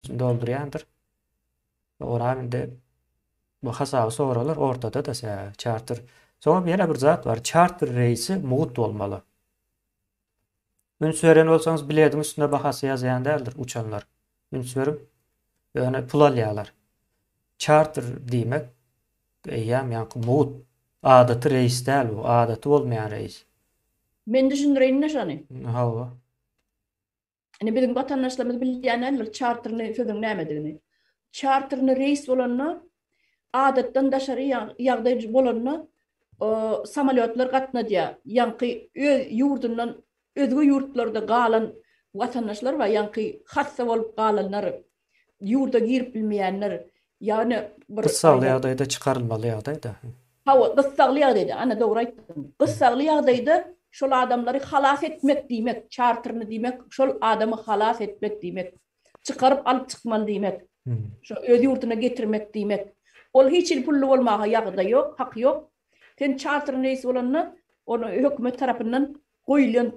doldurýandyr. Oram indi bu hasaby soralar ortada da sä çarter. Soňam ýene bir zat bar. Çarter reýsi mugt bolmaly. Üns beren bolsaňyz bilediň üstünde bahasy ýazýan däldir uçanlar. Üns berip ýöne pul alýarlar. Çarter diýmek eýýäm ýaňky mugt adaty reýs däl bu, adaty bolmaýan reýs. Men düşündireýin-de şony. Hawa. Indi biziň watandaşlarymyz bilýän däldir çarterli sözüň nämedigini. Çarterli reýs bolanda, adatdan daşary ýagdaý bolanda samolýotlar gatnadýar. Ýaňky öz ýurdundan özge ýurtlarda galan watandaşlar bar, ýaňky hassa bolup galanlar, ýurda girip bilmeýänler, ýagny bir. Gyssagly ýagdaýda çykarylmaly ýagdaýda. Hawa, gyssagly ýagdaýda, ana dogry aýtdyň. Gyssagly ýagdaýda şol adamlary halas etmek diýmek, çarterni diýmek, şol adamy halas etmek diýmek, çykaryp alyp çykmaly diýmek, şo öz ýurduna getirmek diýmek. Ol hiç hili pully bolmaga ýagdaý ýok, haky ýok. Sen çarterni reýs bolanda, ony hökümet tarapyndan goýulýan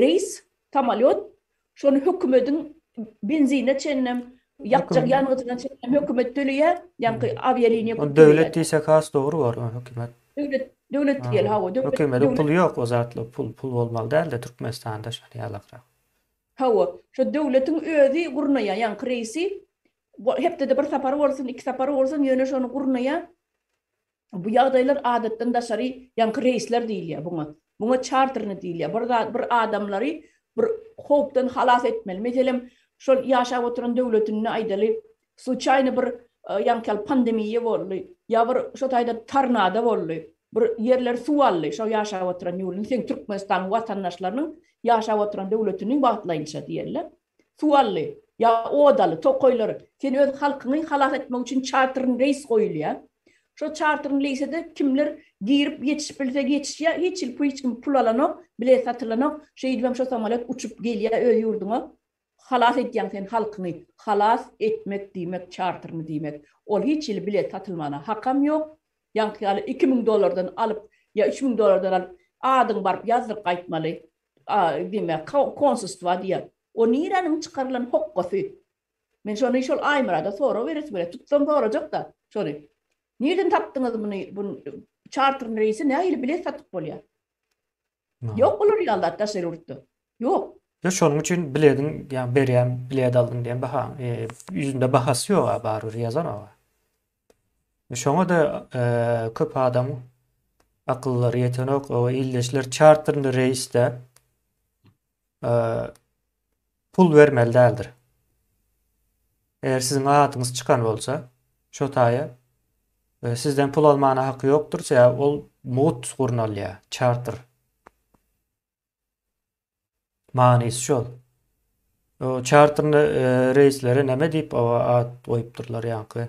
reýs, samolýot, Şony hökümediň benzine çenlem, ýakjak ýangyjyna çenlem hökümet töleýär, ýaňky awialiniýa köp töleýär. Döwlet diýsek has dogry bolar, ony hökümet. Döwlet, döwlet diýeli, hawa, döwlet. Hökümediň puly ýok, o zatlar pul, pul bolmaly däldi Türkmenistanda şony ýalakrak. Hawa, şo döwletiň özi gurnaýar, ýaňky reisi hepdede bir sapary bolsun, iki sapary bolsun, ýöne şony gurnaýar. Bu ýagdaýlar adatdan daşary ýaňky reýsler diýilýär buňa. Buňa çarterni diýilýär. Bir zat bir adamlary bir howpdan halas etmeli. Meselem, şol ýaşap oturan döwletinde aýdaly, sluçaýny bir ýaňky ýaly pandemiýa boldy, ýa bir şo taýda tornado boldy, bir ýerleri suw aldy şo ýaşap oturan ýurduny, seň Türkmenistanyň watandaşlarynyň ýaşap oturan döwletini wagtlaýynça diýerler. Suwally, ýa odaly, tokaýlar, sen öz halkyňy halas etmek üçin çartrn reýs goýulýar. Şo çartrn leýsede kimler girip ýetişip bilse ýetişýär, hiç ýyl hiç kim pul alanok, bilet satylanok, şeýdibem şo samolet uçup gelýär öz ýurduňa. Halas edýäň sen halkyňy, halas etmek diýmek çartrny diýmek. Ol hiç ýyl bilet satylmana hakam ýok. Ýaňky ýaly iki müň dollardan alyp ýa üç müň dollardan alyp adyňy baryp ýazdyryp gaýtmaly. A, diýme, konsulstwa diýer. O niräniň çykarylan hokgasy? Men şony şol Aýmyrada sorag beresim gelýär. Tutsam sorajak-da şony. Nirden tapdyňyz muny? Bu çarter reýsi nähili bilet satyp bolýar? Ýok bular ýaly zat daşary ýurtda. Ýok. Ýa şonuň üçin bilediň, ýa berýän bilet aldyň diýen bahaň, ýüzünde bahasy ýog-a, barybir ýazar o-a. Şoňa-da köp adam akyllary ýetenok. O ildeşler çarterli reýsde e, pul bermeli däldir. Eger siziň adyňyz çykan bolsa, şo taýa e, sizden pul almana haky ýokdur, sebäbi ol mugt gurnalýar, çarter. Manysy şol. O çarterli e, reýslere näme diýip o ad goýupdyrlar ýaňky?